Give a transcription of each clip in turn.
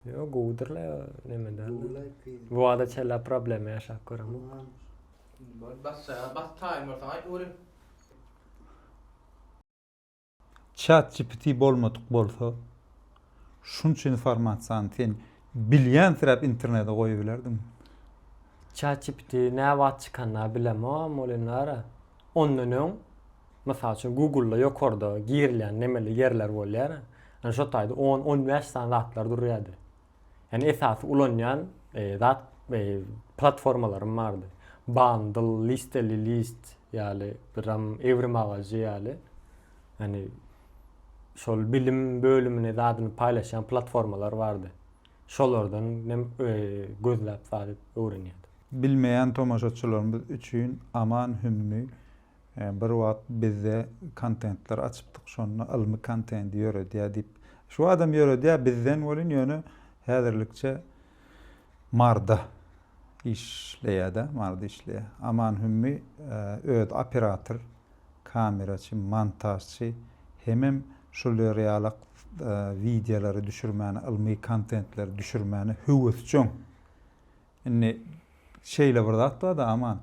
Ýok, gowudyr la neme däl. Bu wada çenli problema ýaşap göremok. Bar basjaga bas taýyn bolsaň aýt görün. Chat GPT bolmadyk bolsa şunça informasiýany sen bilýänsiräp internete goýubilerdiňmi? Chat GPT näwagt çykanynda bilemogam ol indi ara. Ondan öň, mysal üçin, Google-da ýokarda girilýän nemeli ýerler bolýar. Ýani şo taýda on, on bäş sany zatlar durýardy. Ýani esasy ulanýan zat platformalarym bardy. Bandl, listeli list ýaly, biram ewrim agajy ýaly. Ýani şol bilim bölümini zadyny paýlaşýan platformalar bardy. Şolardan hem gözläp salyp öwrenýärdim. Bilmeýän tomaşaçylarymyz üçin Aman Hümmi bir wagt bizde kontentler açypdyk şonda ylmy kontent ýöredýär diýip. Şu adam ýöredýär bizden welin ýöne häzirlikçe Marda işleýädä Marda işleýär. Aman Hümmi öz operator. kameraçy, montažçy hemem şular ýalak wideolary düşürmäne, ylmy kontentleri düşürmäne höwesjeň. Indi şeýle bir zat bar-da, Aman.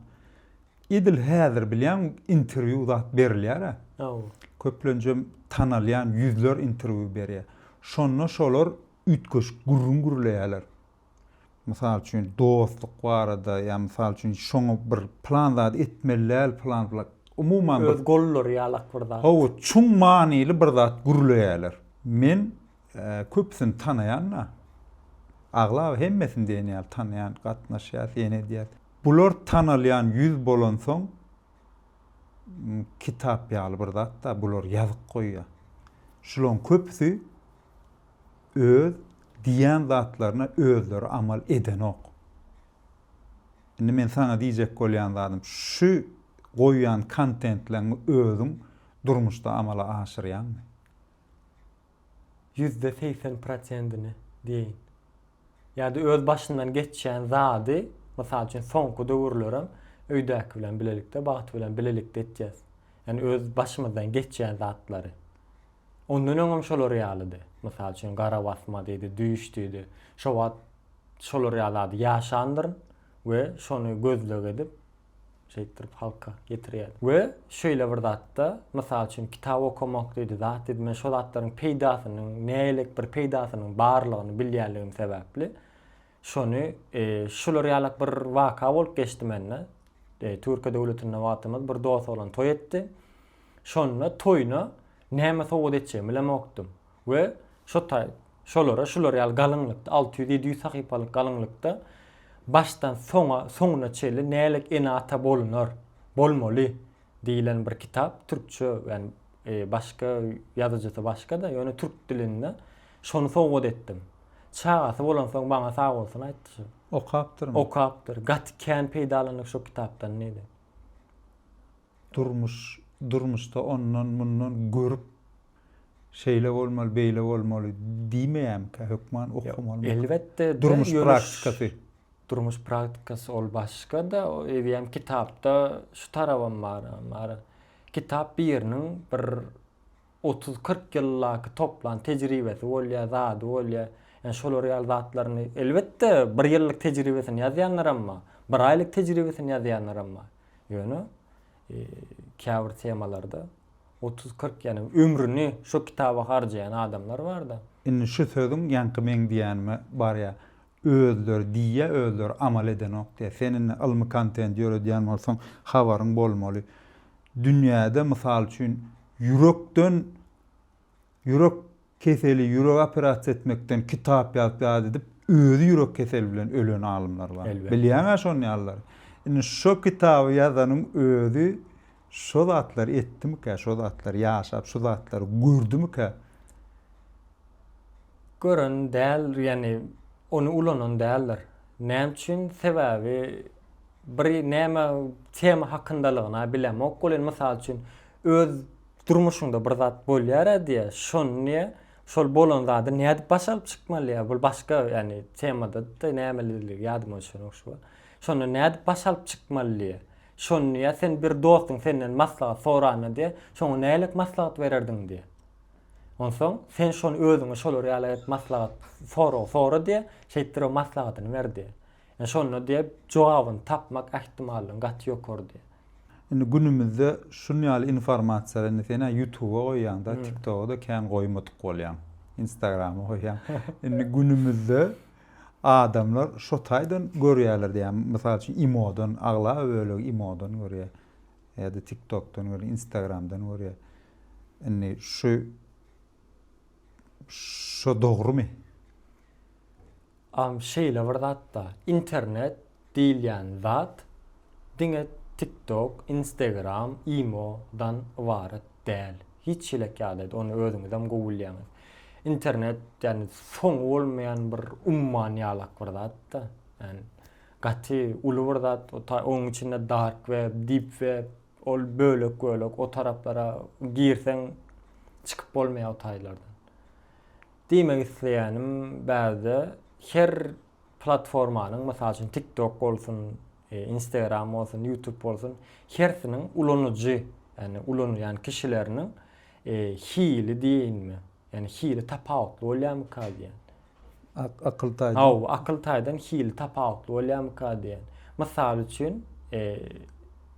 Edil häzir bilýäň, interwýu zat berilýär-ä. Hawa. Köplenjem tanalýan ýüzler interwýu berýär. Şonda şolar üýtgeşik gürrüň gürleýärler. Mysal üçin, dostluk barada, ýa mysal üçin, şoňa bir plan zady etmeli däl, plan plan. Umuman bir. Öz gollary ýalak bir zat. Hawa, çuň manyly bir zat gürleýärler. Men köpüsini tanaýan-da. Aglaba hemmesini diýen ýaly tanaýan, gatnaşýas, ýene edýäs. Bular tanalýan ýüz bolansoň, kitap ýaly bir zat-da, bular ýazyk goýýar. Şularyň köpüsi öz diýýän zatlaryna özleri amal edenok. Indi men saňa diýjek bolýan zadym, şu goýýan kontentleňňi özüň durmuşda amala aşyrýaňmy? Ýüzde segsen prosentini diýeýin. Ýa-da öz başyndan geçýän zady, mysal üçin soňky döwürlerem öýdäki bilen bilelikde, bagt bilen bilelikde etýäs. Ýani öz başymyzdan geçýän zatlary. Ondan öňem şolar ýalydy. Mysal üçin, gara basma diýdi, düýş diýdi. Şo wagt şolar ýaly zady ýaşandyryn we şony gözleg edip, şeýtdirip halka ýetirýärdim. We şeýle bir zatda, mysal üçin, kitap okamak diýdi, zat diýdi, men şo zatlaryň peýdasynyň, nägelik bir peýdasynyň barlygyny bilýänligim sebäpli, Şony şular ýalak bir waka bolup geçdi mende. Türkiýe döwletinde wagtymyz bir dost oglan toý etdi. Şonda toýuna näme sowgat etjegimi bilemokdym. We şo taý şolara şular ýaly galyňlykda alty ýüz ýedi ýüz sahypalyk galyňlykda başdan soňa soňuna çenli nälik ene ata bolunar bolmaly diýilen bir kitap türkçe ýani başga ýazyjysy başga-da ýöne türk dilinde şony sowgat etdim. Çagasy bolansoň maňa sagbolsun aýtdy şol. Okapdyrmy? Okapdyr. Gaty kän peýdalandyk şo kitapdan diýdi. Durmuş, durmuşda ondan, mundan görüp şeýle bolmaly, beýle bolmaly diýmeýärmikä hökman okamaly. Elbetde, durmuş praktikasy. Durmuş praktikasy ol başga-da, eýýäm kitapda şu tarabam bar. Kitap biriniň bir otuz-kyrk ýyldaky toplan tejribesi bolýar, zady bolýar. Ýani şolar ýaly zatlaryny, elbetde, bir ýyllyk tejribesini ýazýanlaram bar, bir aýlyk tejribesini ýazýanlaram bar. Ýöne käbir temalarda otuz-kyrk, ýani ömrüni şo kitaba harjaýan adamlar bar-da. Indi şu sözüň ýaňky meň diýenime barýar. Özleri diýýä özleri amal edenok diýýä sen indi ylmy kontent ýöredýän bolsaň habaryň bolmaly dünýäde mysal üçin ýürekden ýürek keseli ýürek operasiýa etmekden kitap ýazyp ýat edip özi ýürek keseli bilen ölen alymlar bar bilýäňä şony ýalylary indi şo kitaby ýazanyň özi şo zatlary etdimikä, şo zatlary ýaşap, şu zatlary gördümikä? Gören däl, ýagny ony ulanan däldir. Näme üçin? Sebäbi bir näme tema hakyndalygyna bilemok. Ol indi mysal üçin öz durmuşyňda bir zat bolýar-a diýe, şony şol bolan zady nädip başa alyp çykmaly? Bul başga ýagny temada-da nämelidigi ýadyma düşen ogşuba. Şonda nädip başa alyp çykmaly diýe. Şony diýýär, sen bir dostuň senden maslahat soranda diýýär, şoňa nälet maslahat bererdiň diýýär. Onsoň sen şony özüňe şolar ýaly edip maslahat sorag sora diýýär, şeýtdirip maslahatyny ber diýýär. Ýa şonda diýýär, jogabyny tapmak ähtimallygyň gaty ýokary diýýär. Indi günümizde şun ýaly informasiýa indi sen-ä ýutuba goýýaň-da, tiktoga-da kän goýmadyk bolýaň, instagrama goýýaň. Indi günümizde. Adamlar şo taýdan görýärler diýýär. Mysal üçin imodan, aglaba bölegi imodan görýär. Ýa-da tiktokdan görýär, instagramdan görýär. Indi şu şo dogrumy? Am şeýle bir zatda internet diýilýän zat diňe TikTok, Instagram, imo dan ybarat däl. Hiç ýelek ýagdaýda ony özüňizem gowy bilýäňiz. Internet ýagny soňy bolmaýan bir umman ýalak bir zat-da. Ýagny gaty uly bir zat. Onuň içinde dark web, deep web ol bölek bölek o taraplara girseň çykyp bolmaýar o taýlardan. Diýmek isleýänim bärde her Platformanyň, mysal üçin, TikTok bolsun, Instagram bolsun, YouTube bolsun, hersiniň ulanyjy, ýagny ulanylýan kişileriniň hili diýeýinmi, ýagny hili tapawutly bolýarmyka diýýän. Akyl taýdan. Hawa, akyl taýdan hili tapawutly bolýarmyka diýýän. Mysal üçin,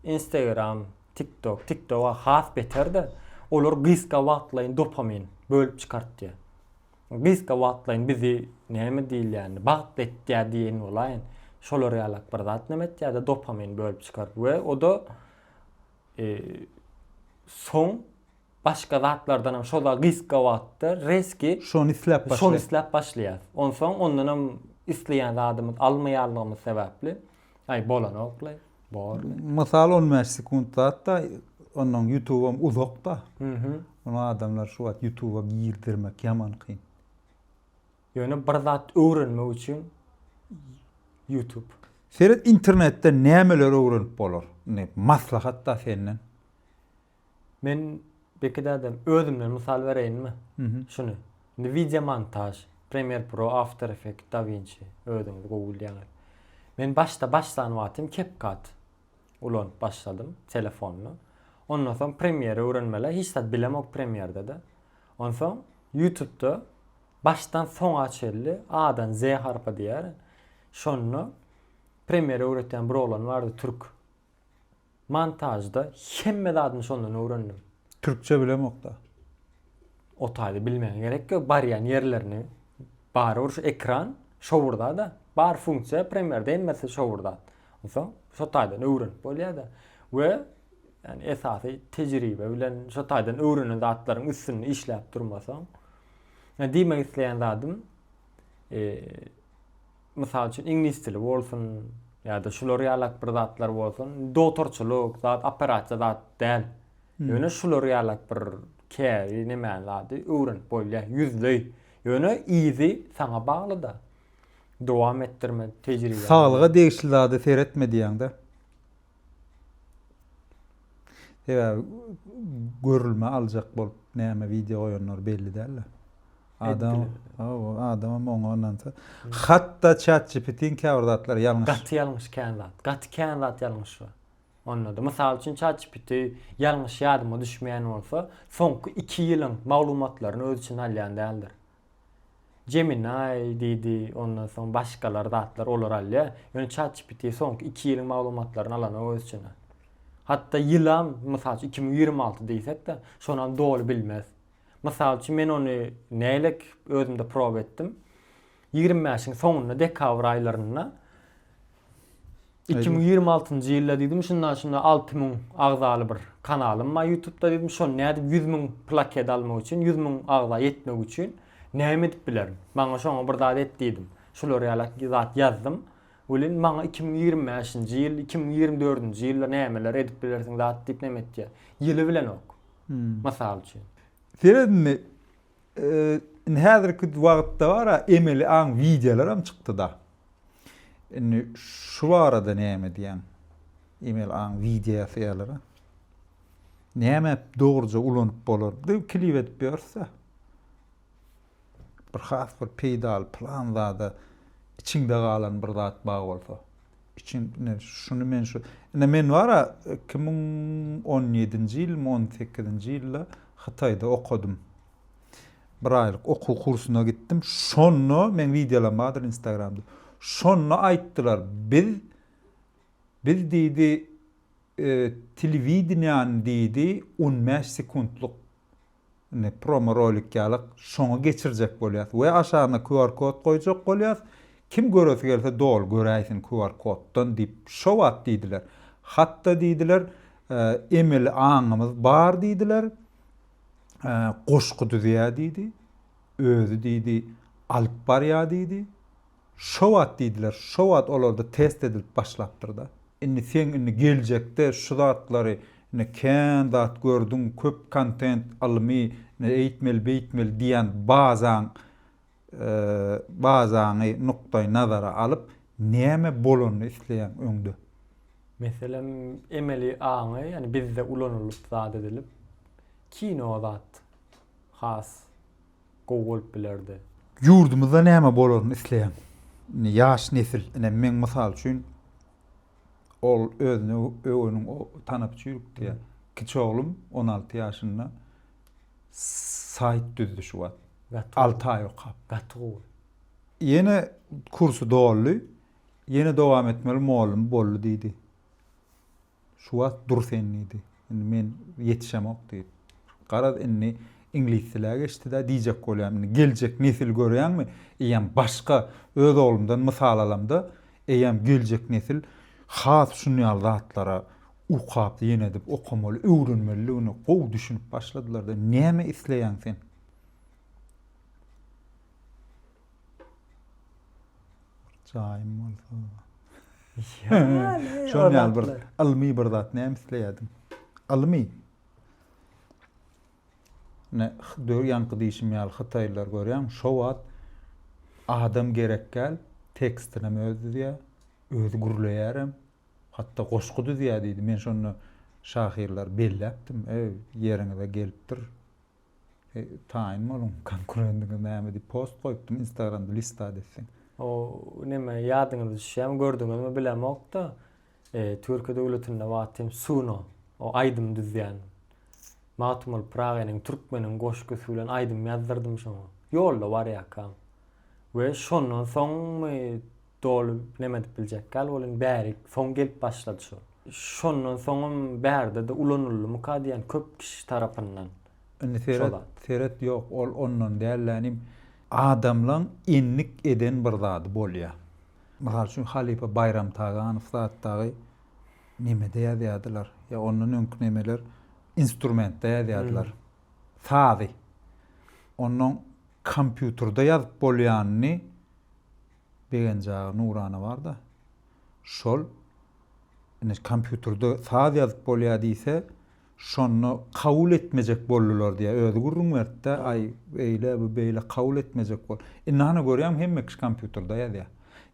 Instagram, TikTok, TikTok-a has beter-de, olar gysga wagtlaýyn dopamin bölüp çykartýar. Gysga wagtlaýyn bizi näme diýilýänini bagtly etýär diýen bolaýyn. Şolar ýalak bir zat näme etýärdi dopamin bölüp çykaryp we oda soň başga zatlardanam şoda gysga wagtda rezki şony isläp başlaýar. Şony isläp başlaýar. Onsoň ondanam isleýän zadymyz almaýanlygymyz sebäpli Aý bolanokly, borly. Mysal on bäş sekunt zatda ondan ýutubam uzakda. Ony adamlar şu wagt ýutuba girdirmek ýaman kyn. Ýöne bir zat öwrenmek üçin ýutub. Seret internetde nämeler öwrenip bolar. Indi maslahat-da senden. Men beki dädem özümden mysal bereýinmi? Şuny. Indi wideo montaž, Premiere Pro, After Effect, DaVinci özüňiz gowy bilýäňiz. Men başda başlan wagtym CapCut ulanyp başladym telefonda. Ondan soň Premiere öwrenmeli, hiç zat bilemok Premierde-de. Onsoň Youtubda başdan soňa çenli A-dan Z harpa diýýär. Şonda Premiere öwretýän bir oglan bardy türk. Montažda hemme zadyny şondan öwrendim. Türkçe bilemokda. Otaýda bilmegiň gerek ýok, barýan ýerlerini barybir şu ekran şowurdada, bar funksiýa premýerde hemmesi şowurda. Onsoň şo taýdan öwrenip bolýada. We ýani esasy tejribe bilen şo taýdan öwrenen zatlaryň üstünde işläp durmasaň. Ýa diýmek isleýän zadym, eee Mysal üçin, iňlis dili bolsun ýa-da şular ýalak bir zatlar bolsun, dogtorçylyk zat, operasiýa zat däl. Ýöne şular ýalak bir käri nemäni zady öwrenip bolýar, ýüzleý. Ýöne yzy saňa bagly-da. Dowam etdirme tejribäni. Saglyga degişli zada seretme diýýäň-dä. Sebäbi görülmä aljak bolup näme wideo goýanlary belli däl-de. Adam, hawa, adamam oňa ynansa. Hatda ChatGPT-niň käbir zatlary ýalňyş. Gaty ýalňyş kän zat. Gaty kän zat ýalňyş bar. Onda-da. Mysal üçin, ChatGPT ýalňyş ýadyma düşmeýän bolsa, soňky iki ýylyň maglumatlaryny öz içine alýan däldir. Gemini diýdi, ondan soň başgalar zatlar olar alýar. Ýöne ChatGPT soňky iki ýylyň maglumatlaryny alanok öz içine. Hatda ýylam, mysal üçin, iki müň ýigrimi alty diýsek-de, şonam doly bilmez. Mysal üçin men ony nälik özümde proba etdim. Ýigrimi bäşiň soňunda dekabr aýlarynda iki müň ýigrimi altynjy ýylda diýdim şunda şunda alty müň agzaly bir kanalym bar ýutubda diýdim şony nädip ýüz müň plaket almak üçin ýüz müň agza ýetmek üçin näme edip bilerin maňa şoňa bir zat et diýdim şular ýaly zat ýazdym welin maňa iki müň ýigrimi bäşinji ýyl iki müň ýigrimi dördünji ýylda nämeler edip bilersiň zat diýip neme etýär ýyly bilenok. Mysal üçin. Seredinmi, indi häzirki wagtda bar-a emeli aň wideolaram çykdy-da. Indi şu barada näme diýýäň? Emeli aň wideosy ýaly-ra. Näme dogruja ulanyp bolar? Diýip klip edip ýörüs-ä. Bir has bir peýdaly plan zada içiňde galan bir zat bar bolsa. Içiň ine şuny men şu ine men bara iki müň on ýedinji ýylmy on sekizinji ýylda Hytaýda okadym. Bir aýlyk okuw kursuna gitdim. Şonda meň wideolaryň bardyr instagramda. Şonda aýtdylar biz biz diýdi telewideniýäni diýdi on bäş sekuntlyk indi promo rolik ýaly şoňa geçirjek bolýas we aşagyna QR kod goýjak bolýas, kim göresi gelse doly göräýsin QR koddan diýip şo wagt diýdiler. Hatda diýdiler emeli aňymyz bar diýdiler, goşgy düzýä diýdi, özi diýdi alyp barýa diýdi. Şo wagt diýdiler, şo wagt olarda test edilip başlapdyr-da. Indi seň indi geljekde şu zatlary indi kän zat gördüň, köp kontent, ylmy, indi eýtmeli, beýtmeli diýen bazaň, bazaňy nukdaý nazara alyp, näme bolanyny isleýäň öňde? Meselem, emeli aňy, ýani bizde ulanylyp zat edilip, kino zat has gowy bolup bilerdi. Ýurdumyzda näme bolaryny isleýän indi ýaş nesil, ine, meň mysal üçin, ol özüni öweniň tanapçy ýürükdýär. Kiçi oglum on alty ýaşynda saýt düzdi şu wagt. Alty aý okap. Gaty gowy. Ýene kursy doldy. Ýene dowam etmeli, mugallym boldy diýdi. Şu wagt dur sen diýdi. Indi men ýetişemok diýip. Garaz, indi iňlis dilä geçdi-de, diýjek bolýan, indi geljek nesil görýäňmi, eýýäm başga. Öz oglumdan mysal alamda, eýýäm geljek nesil has şun ýaly zatlara ukaply ýene edip okamaly, öwrenmelidigine gowy düşünip başladylar-da. Näme isleýäň sen? Jaýym bolsa. Şol ýaly bir ylmy bir zat näme isleýärdim? Ylmy. Ne döw ýaňky diýşim ýaly hytaýlar görýän, şo wagt adam gerek gel, tekstini hem öz düzýär, öz gürleýär hem. Hatda goşgy düzýär diýdi. Men şonda şahyrlar belläpdim. Ey, ýeriňize gelipdir. Eý taýyn boluň konkurendiňiz näme diýip post goýupdym instagramda listat etseň. O neme ýadyňyza düşýämi gördüňizmi bilemokda Türkiýe döwletinde wagty hem Suno o aýdym düzýän Magtymguly Pyragynyň Türkmeniň goşgusy bilen aýdym ýazdyrdym şoňa ýolda barýarkam we şondan soňmy Doly neme edip biljek gal welin bäri soň gelip başlady şol. Şondan soňam bärde-de ulanylymyka diýen köp kişi tarapyndan. Indi seret, seret ýok ol ondan däl dä inim. Adamlaň endik eden bir zady bolýa. Mysal üçin halypa Baýram Taganow zat dagy nemede ýazýadylar ýa ondan öňki nemeler instrumentde ýazýadylar. Sazy onnoň kompýuterde ýazyp bolýanyny Begenjagy nurana barda şol ine kompýuterde saz ýazyp bolýa diýse şonda kabul etmejek boldular diýä özi gürrüň bertdä aý beýle bu beýle kabul etmejek bol indi hany görýäňmi hemme kişi kompýuterde ýazýa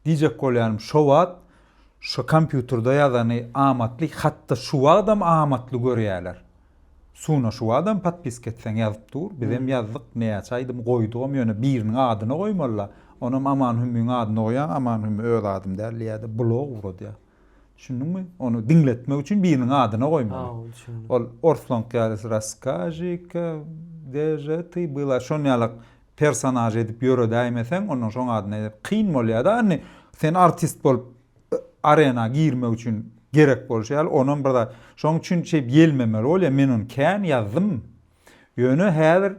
diýjek bolýarym şo wagt şo kompýuterde ýazany amatly hatda şu wagtam amatly görýäler Suna şu adam podpiska etseň ýazyp dur bizem ýazdyk näçe aýdym goýdugam ýöne biriniň adyna goýmalyda onam Aman Hümmiň adyna goýaň Aman Hümmi öz adym däl diýädä blog uradýa düşündiňmi ony diňletmek üçin biriniň adyna goýmaly ol orslank ýaly raskažika deže ty byla şon ýalak personaž edip ýöredäýmeseň onnoň şoň adyna kyn bolýada indi sen artist bolup arena girmek üçin gerek bolşy ýaly onam bir zat şoň üçin şeýp ýelmemeli bolýa men ony kän ýazdym ýöne häzir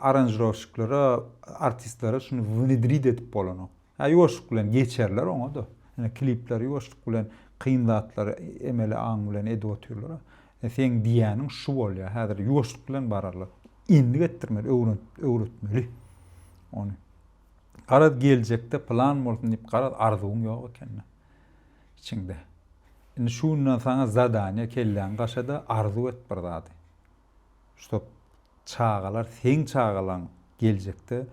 aranžirowşiklara artistlere şuny wnedrid edip bolanok hä ýuwaşlyk bilen geçerler oňada ine klipleri ýuwaşlyk bilen kyn zatlary emeli aň bilen edip otyrlar e seň diýýäniň şu bolýa häzir ýuwaşlyk bilen bararlar endik etdirmeli öwrenip öwretmeli ony. Garaz geljekde plan bolsun diýip garaz arzuwyň ýok ekeni içiňde. Indi şu günden saňa zadaniýe kelläňi gaşada arzuw et bir zady. Şop çagalar seň çagalaň geljekde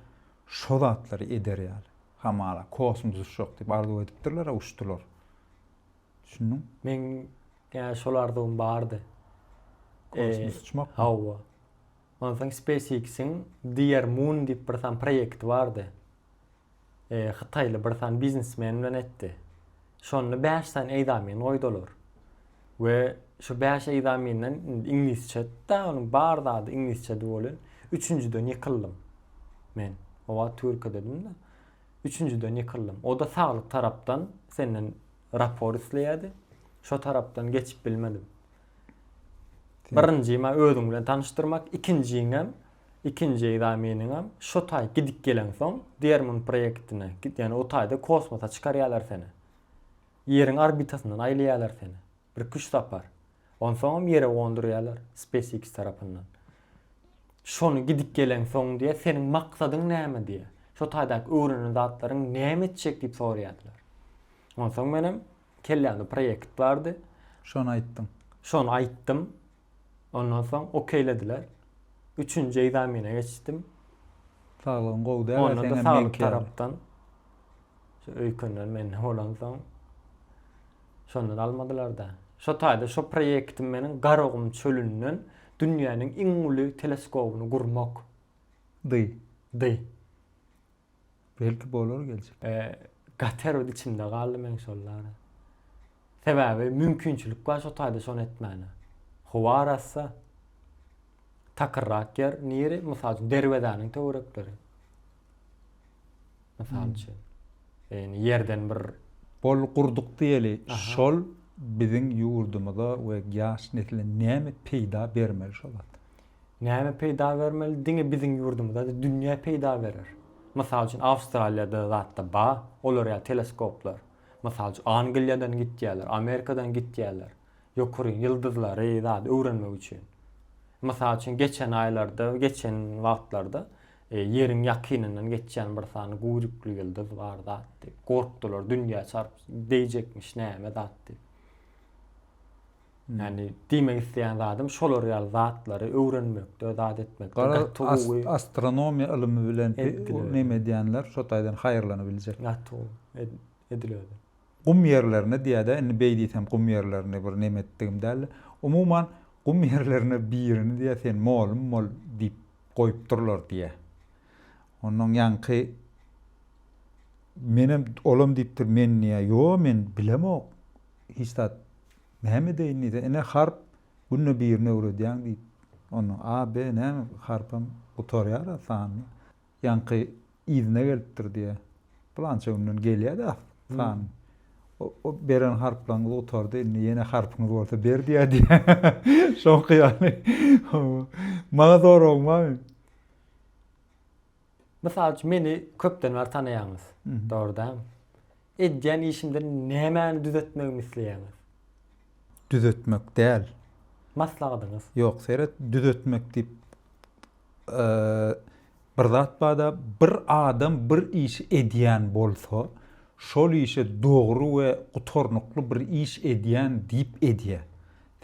şo zatlary eder ýaly. Hamala kosmos uçjak diýip arzuw edipdirler-ä uçdular. Düşündiň? Meň şol arzuwym bardy. Kosmos uçmakmy? Hawa. Onsoň SpaceX-iň Dear Moon diýip bir sany proýekti bardy. Hytaýly bir sany biznesmen bilen etdi. Şonda bäş sany eýzamin goýdy olar. We şu bäş eýzaminden indi iňlisçe da onuň bar zady iňlisçedi welin üçünjiden ýykyldym. Men o wagt türkidedim-de. Üçünjiden ýykyldym. O-da saglyk tarapdan senden rapor isleýärdi. Şo tarapdan geçip bilmedim. Birinji ma özüň bilen tanyşdyrmak, ikinjiňem, ikinji egzameniňem şo taý gidip geleňsoň, Dermun proýektine, ýagny o taýda kosmosa çykarýarlar seni. Ýeriň orbitasyndan aýlaýarlar seni. Bir iki-üç sapar. Onsoňam ýere gondurýarlar SpaceX tarapyndan. Şony gidip geleňsoň diýýär, seniň maksadyň näme diýýär. Şo taýdaky öwrenen zatlaryň näme etjek diýip soraýardylar. Onsoň menem Kellämde proýekt bardy. Şony aýtdyň. Şony aýtdym. Ondan soň okeýlediler. Üçünji ekzamene geçdim. Saglygyň gowy däl, Onda da saglyk tarapdan. Şu öýkenden men bolansoň şonda da almadylar-da. Şo taýda şo proýektim meniň Garagum çölünden dünýäniň iň uly teleskobyny gurmak. Dy. Dy. Belki bolar geljek. Gaterod içimde galdy meň şollara. Sebäbi mümkinçilik bar şo taýda şony etmäne. Howa arassa. Takyrrak ýer niri? Mysal üçin derwezäniň töwerekleri. Mysal üçin. Ýani ýerden bir Bol gurduk diýeli. Şol biziň ýurdumyza we ýaş nesle näme peýda bermeli şo zat? Näme peýda bermeli diňe biziň ýurdumyza de dünýä peýda berer. Mysal üçin Awstraliýada zatda ba olar ýaly teleskoplar. Mysal üçin Angliýadan gitýäler, Amerikadan gitýäler. Ýokaryň ýyldyzlary zat öwrenmek üçin. Mysal üçin geçen aýlarda geçen wagtlarda ýeriň ýakynyndan geçýän bir sany guýrukly ýyldyz bar zat diýip gorkdular dünýä çarp deýjekmiş näme zat diýip. Ýani diýmek isleýän zadym şolar ýaly zatlary öwrenmekde zat etmekde gaty gowy. Garaz astronomiýa ylymy bilen neme edýänler şo taýdan haýyrlanybiljek. Gaty gowy edilerdi. Gum ýerlerine diýädä indi beý diýsem gum ýerlerini bir neme etdigim däldi. Umuman gum ýerlerine birini diýä sen molum bol diýip goýupdyrlar diýä. Ondan ýaňky menem olam diýipdir men diýä ýo men bilemok hiç zat Näme edeýin diýse, ine harp, günde birini öwredýäň diýip, onda A, B näme, harpam gutarýar-a sanyň, ýaňky yzyna gelipdir diýýä. Pylança günden gelýär-de sanyň. O beren harplaryňyz gutardy, indi ýene harpyňyz bolsa ber diýýär diýýä. Şoňky ýaly. Maňa soragyň barmy? Mysal üçin, meni köpden bäri tanaýaňyz, dogry dämi? Edýän işimde nämäni düzetmegimi isleýäňiz? Düzetmek däl. Maslahatyňyz? Ýok, seret, düzetmek diýip bir zat bar-da, bir adam bir işi edýän bolsa, şol işe dogry we gutarnykly bir iş edýän diýip edýär.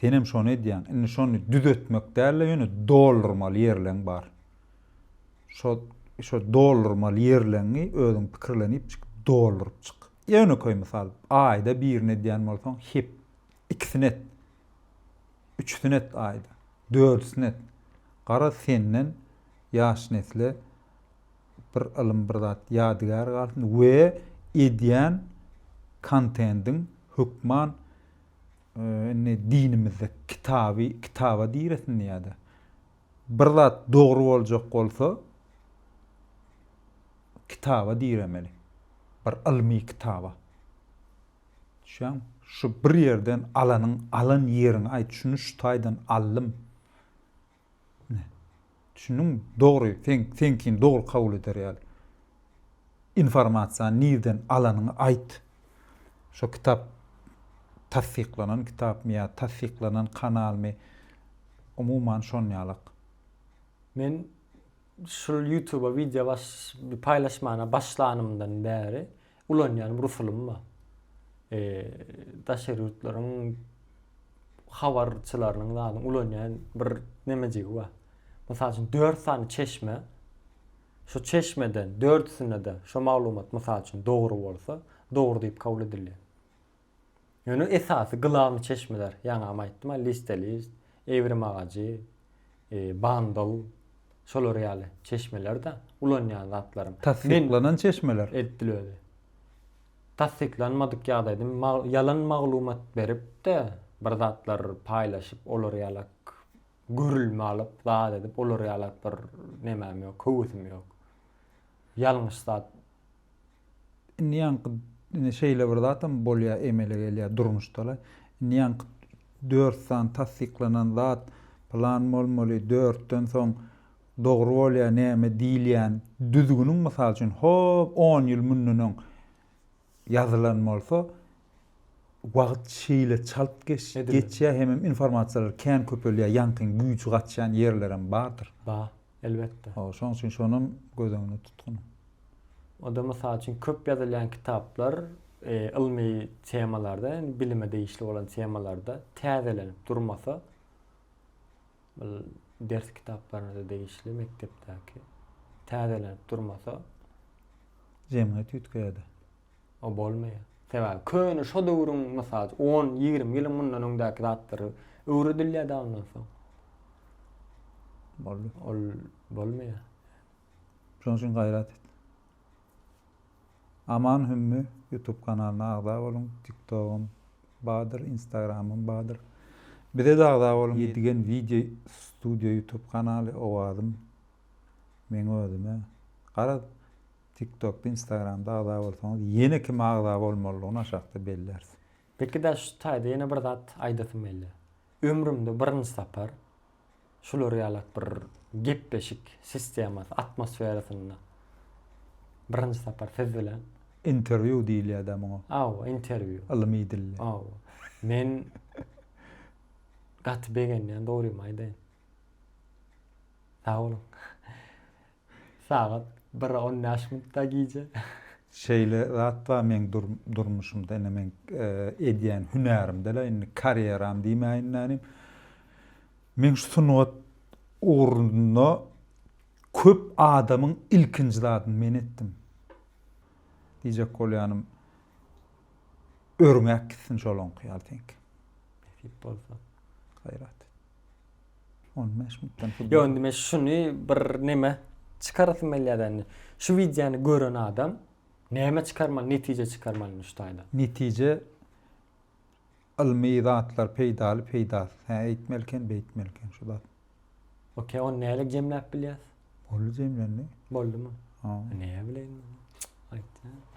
Senem şony edýäň. Indi şony düzetmek däl-de, ýöne doldurmaly ýerleň bar. Şol şo doldurmaly ýerleňňi özüň pikirlenip çyk, dolduryp çyk. Ýönekeý mysal, aýda birini edýän bolsaň, hep ikisini et. Üçüsini et aýda. Dördüsini et. Garaz senden ýaş nesle bir ylym, bir zat ýadygär galsyn we edýän kontendiň hökman indi dinimizde kitaby, kitaba diresin ýa-da Bir zat dogry boljak bolsa, kitaba diremeli. Bir ylmy kitaba. Düşýäňmi? Şu bir ýerden alanyň, alan ýeriňi aýt, şuny şu taýdan aldym. Düşündiňmi? Dogry, seň, seňkini dogry kabul eder ýaly. informasiýany nirden alanyňy aýt. Şo kitap tassyklanan kitapmy ýa tassyklanan kanalmy umuman şonýalak. Men şul ýutuba wideo paýlaşmana başlanymdan bäri ulanýan bir usulym bar. Daşary ýurtlaryň habarçylarynyň zadyň ulanýan bir nemejigi bar. Mysal üçin dört sany çeşme. Şu çeşmeden dördüsinde-de şo maglumat, mysal üçin, dogry bolsa, dogry diýip kabul edilýär. Ýöne esasy gylamy çeşmeler, ýaňam aýtdym-a, Listelist, Ewrim agajy, Bandl, şolar ýaly çeşmeler-de, ulanýan zatlarym. Tassyklanan çeşmeler. Edil özi. Tassyklanmadyk ýagdaýda ýalan maglumat berip-de, bir zatlar paýlaşyp, olar ýalak Gürrümi alyp, zat edip, olar ýaly bir nemäm ýok, höwesim ýok. Ýalňyş zat. Indi ýaňky indi şeýle bir zatam bolýar, emele gelýär durmuşda-la. Indi ýaňky dört sany tassyklanan zat plan bolmaly, dörtden soň dogry bolýar näme diýilýän düzgüniň, mysal üçin, hop, on ýyl mundan öň ýazylan bolsa, wagt şeýle çalt geçýär hemem informasiýalar kän köpelýär, ýaňkyň güýji gaçýan ýerlerem bardyr. Bar, elbetde. Hawa, şonuň üçin şonam göz öňünde tutgun. O-da mysal üçin köp ýazylýan kitaplar ylmy temalarda, indi bilime degişli bolan temalarda täzelenip durmasa, Ol ders kitaplaryna-da degişli mekdepdäki. Täzelenip durmasa. Jemgyýet üýtgeýär-de. O bolmaýar. Sebäbi köne şo döwrüň, mysal üçin, on, ýigrimi ýylyň mundan öňdäki zatlary öwredilýär-de ondan soň. Boldy. Ol bolmaýar. Şonuň üçin gaýrat et. Aman hümmi youtube kanalyna agza boluň tiktogym badyr instagramym badyr bizede agza boluň yedigen video studio youtube kanaly owazym meň özüme garaz tiktokda instagramda agza bolsaňyz yene kime agza bolmalydygyny aşakda belläris. Peki daş şu taýda ýene bir zat aýdasym gelýär. Ömrümde birinji sapar şular ýalak bir gepleşik sistemasy atmosferasynda birinji sapar siz bilen. Interwýu diýilýär-dä muňa. Hawa, interwýu. Ylmy dilde. Hawa. Men gaty begenýän, dogrymy aýdaýyn. Sag boluň. Sagat bir on bäş minutda gije. Şeýle zat bar meň durmuşymda ine meň edýän hünärimde-le indi karýeram diýmäýin nädýn. Meň şu sungat ugrunda köp adamyň ilkinji zadyny men etdim. Diýjek bolýanym örňäp gitsin şolaňky ýaly seňki. Nesip bolsa. Gaýrat et. On beş minutdan futbol. Yo indi men şuny bir neme çykarasym gelýär indi. Şu wideony gören adam näme çykarmaly, netije çykarmaly indi şu taýda? Netije ylmy zatlar peýdaly, peýdasyz. Hä eýtmeli eken, beýtmeli eken şu zat. Okey, ony nälik jemläp bilýäs? Boldy jemlendi. Boldumy? Ha. Näe bileýin. Aýt.